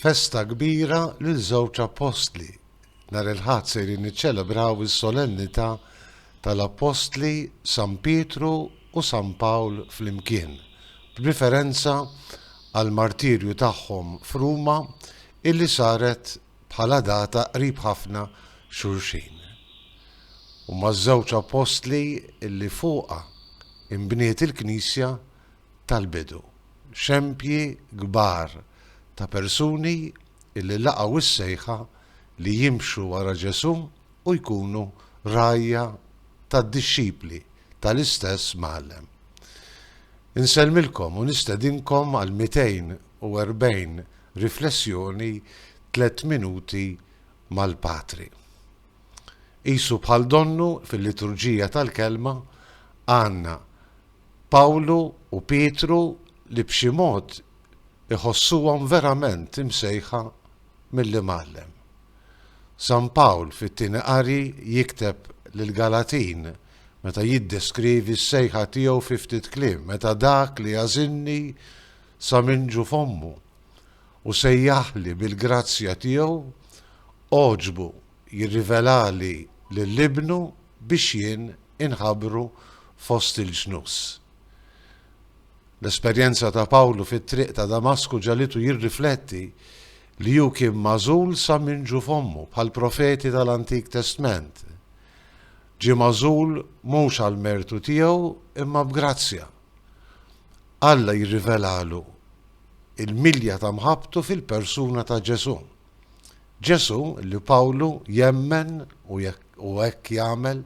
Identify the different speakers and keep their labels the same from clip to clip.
Speaker 1: Festa kbira lil żewġ appostli. Nhar il-Ħadd sejrin niċċelebraw is-solennità tal-appostli San Pietru u San Pawl flimkien, b'riferenza għall-martirju tagħhom f'Ruma illi saret bħala data qrib ħafna xulxin. Huma ż-żewġ appostli illi fuqha inbniet il-Knisja, tal-bidu, xempji kbar ta' persuni li laqgħu s-sejħa li jimxu wara Ġesù u jkunu rgħajja tad-dixxipli tal-istess Mgħallem. Insellmilkom u nistedinkom għal 240 riflessjoni tliet minuti mal-Patri. Qisu bħal donnu fil-liturġija tal-kelma għandna Pawlu u Pietru li b'xi mod iħossuhom verament imsejħa mill-Imgħallem. San Pawl fit-Tieni Qari jikteb lill-Galatin meta jiddeskrivi s-sejħa tiegħu fi ftit kliem, Meta dak li għażilni sa minn ġu f'ommu u sejjaħli bil-grazzja tiegħu għoġbu jirrivelali lil Ibnu, biex jien inħabbru fost il-ġnus. L-esperjenza ta' Pawlu fit-triq ta' Damasku ġagħlitu jirrifletti li hu kien magħżul sa minn ġu f'ommu, bħall-profeti tal-Antik Testment. Ġie magħżul mhux għall-mertu tiegħu imma b'grazzja. Alla jirrivelalu l-milja ta' mħabbtu fil-persuna ta' Ġesù. Ġesù, li Pawlu jemmen u hekk jagħmel,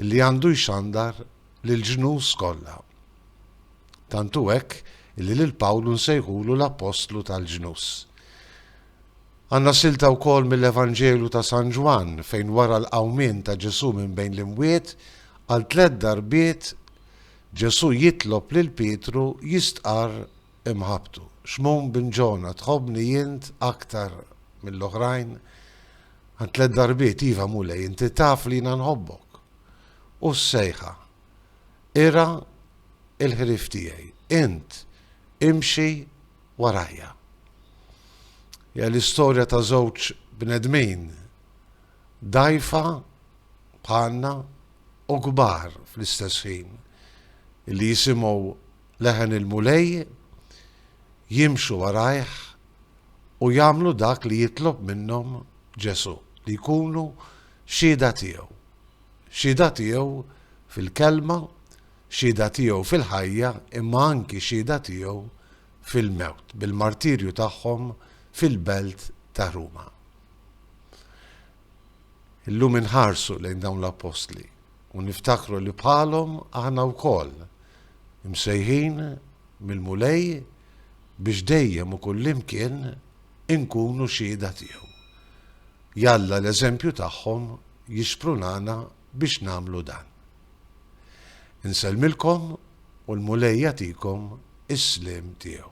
Speaker 1: li għandu jxandar lill-ġnus kollha. Tant hu hekk illi lil Pawlu nsejħulu l-Appostlu tal-Ġnus. Għandna silta wkoll mill-Evanġelu ta' San Ġwann fejn wara l-qawmien ta' Ġesù minn bejn l-imwiet, għal tliet darbiet Ġesù jitlob lil Pietru jistqarr imħabbtu. Xmun bin Ġona, tħobbni int aktar mill-oħrajn? Għand tliet darbiet, iva, Mulej, inti taf li jiena nħobbok. U s-sejħa, ira il-ħrif tiegħi, int imxi warajja. Ja l-istorja ta' żewġ bnedmin dajfa bħalna u kbar fl-istess ħin li jisimgħu Leħen il-Mulej, jimxu warajh u jagħmlu dak li jitlob minnhom Ġesù, li jkunu xhieda tiegħu. Xhieda tiegħu fil-kelma, xhieda tiegħu fil-ħajja imma anki xhieda tiegħu fil-mewt, bil-martirju tagħhom fil-belt ta' Ruma. Illum inħarsu lejn dawn l-appostli. u niftakru li bħalhom aħna wkoll imsejħin mill-Mulej biex dejjem u kullimkien inkunu xhieda tiegħu. Jalla l-eżempju tagħhom jixprunana biex nagħmlu dan. Insellmilkom u l-Mulej jagħtikom is-sliem tiegħu.